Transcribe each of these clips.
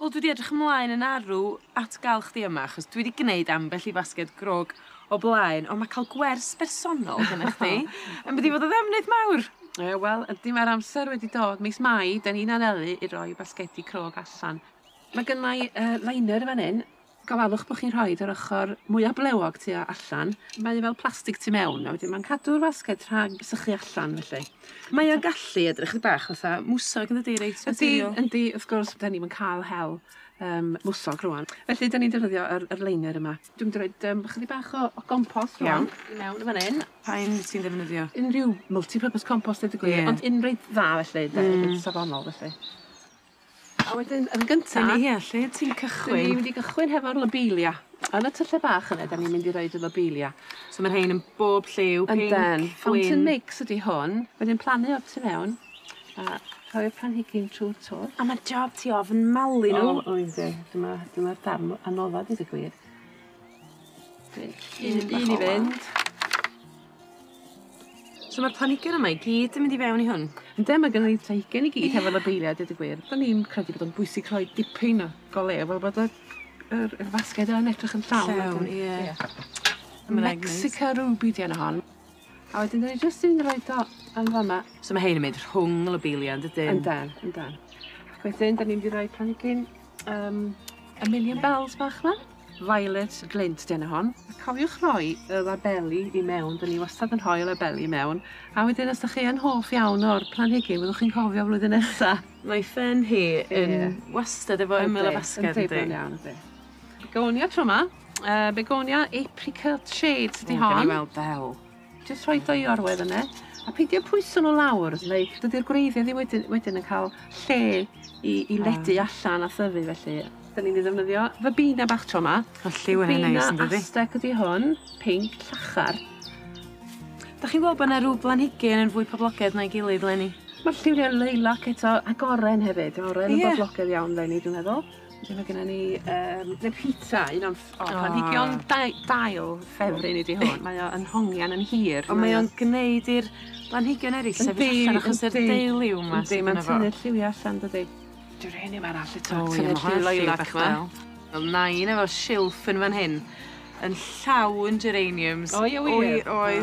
Wel dwi 'di edrych ymlaen yn arw at ga'l chdi yma achos dwi 'di gneud ambell i fasged grog o blaen on' ma' ca'l gwers bersonol gynna chdi yn mynd i fod yn ddefnydd mawr. Ie wel ydi ma'r amser wedi dod mis Mai 'dan ni'n anelu i roi basgedi crog allan. Ma' gynnai yy liner yn fan 'yn Gofalwch bod chi'n rhoid yr ochr mwya' blewog tu allan. Mae o fel plastig tu mewn a wedyn mae'n cadw'r fasged rhag sychu allan felly. Mae o'n gallu edrych chydig bach fatha mwsog yn dydi? Reit naturiol. Yndi yndi wrth gwrs 'dan ni'm yn ca'l hel yym mwsog rŵan. Felly 'dan ni'n defnyddio yr yr liner yma. Dwi'n mynd i roid yym chydig bach o o gompost rŵan. Iawn. I mewn yn fan 'yn. Pa un wyt ti'n ddefnyddio? Unrhyw multi-purpose compost deud y gwir. Ie. Ond un reit dda felly 'de? Hmm. Reit safonol felly. A wedyn yn gynta... Dyna hi, lle ti'n cychwyn? 'Dyn ni mynd i gychwyn hefo'r lobelia. Yn y tyllau bach yna 'dan ni'n mynd i roid y lobelia. So ma' rhein yn bob lliw, pinc, gwyn. Yndan. Fountain mix ydi hwn. Wedyn plannu o tu mewn a rhoi'r planhigyn trw'r twll. A ma'r job ti ofn malu n'w. O oes e. Dyma dyma'r darn m- anodda deud y gwir. Dwi'n... Un un i fynd. So ma'r planhigion yma i gyd yn mynd i fewn i hwn? Ynde ma' gynno ni planhigion i gyd hefo lobelia deud y gwir. 'Dan ni'n credu bod o'n bwysig rhoi dipyn o goleu fel bod y yr yr fasged yn edrych yn llawn. Llawn ie. Ia. A ma' rei neis. Mexica ruby 'di enw hon. A wedyn 'dan ni jyst yn roid o yn fa' 'ma. So ma' rhein yn mynd rhwng y lobelia yndydyn? Yndan yndan. Ac wedyn 'dan ni mynd i roi planhigyn yym y million bells bach 'ma. Violet Glint dyn o hon. Cofiwch rhoi y labeli i mewn, dyn ni wastad yn rhoi y labeli i mewn, a wedyn os dych chi yn hoff iawn o'r planhigyn fyddwch chi'n cofio flwyddyn nesa. Mae ffen hi yn wastad efo ymyl a basged yndi? Yndi, yndi, iawn yndi. Begonia tro 'ma, yy begonia apricot shade ydi hon. O gawn ni weld be' 'ell. Jyst rhoi dwy orwedd yna, a peidio pwyso nhw lawr, neu dydy'r gwreiddiau ddim wedyn, wedyn yn cael lle i, i ledu ah. allan a thyfu felly. Da ni'n ei ddefnyddio fabina bach tro yma. O lliw yn ei neis yn dydi? Fabina Aztec ydi hwn, pink, llachar. Da chi'n gweld bod yna rhyw blanhigyn yn fwy poblogaidd na'i gilydd, Lenny? Mae'r lliwiau lilac eto, ac oren hefyd. Oren yn yeah. boblogaidd iawn, Lenny, dwi'n meddwl. Wedyn mae gennym ni um, the pizza, un o'n oh, planhigion dail ffefryn i di hwn. Mae o'n hongian yn hir. Ond mae o'n gwneud i'r planhigion eraill sefyll allan achos yr deiliw yma sydd yna fo. Mae'n tynnu'r lliwiau allan, dydy. Dwi'n rhaid i arall eto. Tynnu'r lliw lilac yma. Wel, nain efo silff yn fan hyn. Yn llawn geraniums. Oi, oi, oi.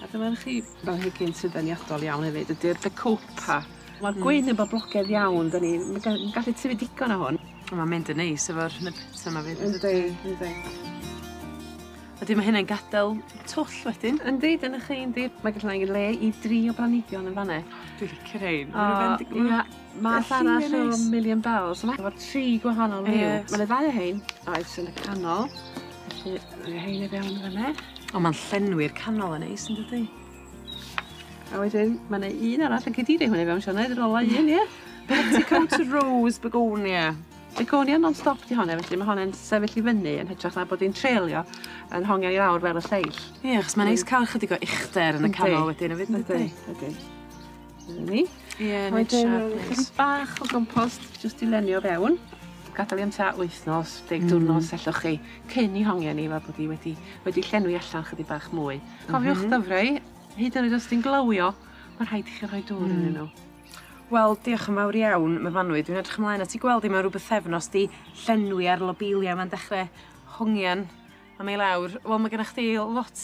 A dyma chi blanhigyn sy'n ddeniadol iawn hefyd ydi'r bacopa. Ma'r hmm. gwyn yn boblogedd iawn, da ni'n gallu tyfu digon o hwn. Mae'n mynd yn neis efo'r nybita yma fyd. Yndi, yndi. Ydy, mae hynny'n gadael twll wedyn. Yndi, dyna chi, yndi. Mae gallu ei le i dri o branigion yn fanna. Dwi'n licio rhain. Mae'n rhywbeth yn digwydd. Math arall o Million Bells. Mae efo tri gwahanol liw. Ie. Ma' 'na ddau o rhein, oes, yn y canol. Felly, rhoi rhein i fewn yn fan 'ne. O ma'n llenwi'r canol yn neis yndydi? A wedyn ma' 'na un arall yn cyd-diri hwn i fewn Sioned yr ola un ie? Petticoat Rose Begonia. Begonia non-stop 'di hon felly ma' hon yn sefyll i fyny yn hytrach na bod 'i'n treulio yn hongian i lawr fel y lleill. Ie achos ma'n neis ca'l chydig o uchder yn y canol wedyn efyd yndydi? Yndi yndi. Dyna ni. Ie, neud siâp neis. A wedyn rown ni chydig bach o gompost jyst i lenwi o fewn. Gadal 'i am tua wythnos, deg diwrnod os ellwch chi, cyn 'i hongian 'i fel bod 'i wedi wedi llenwi allan chydig bach mwy. Cofiwch dyfrau, hyd yn oed os 'di 'i'n glywio, ma' rhaid i chi rhoi dŵr iddyn nhw. Wel, diolch yn fawr iawn, Myfanwy. Dwi'n edrych ymlaen at 'i gweld 'i mewn rhyw bythefnos 'di llenwi a'r lobelia 'ma'n dechre hongian am ei lawr. Wel ma' genna chdi lot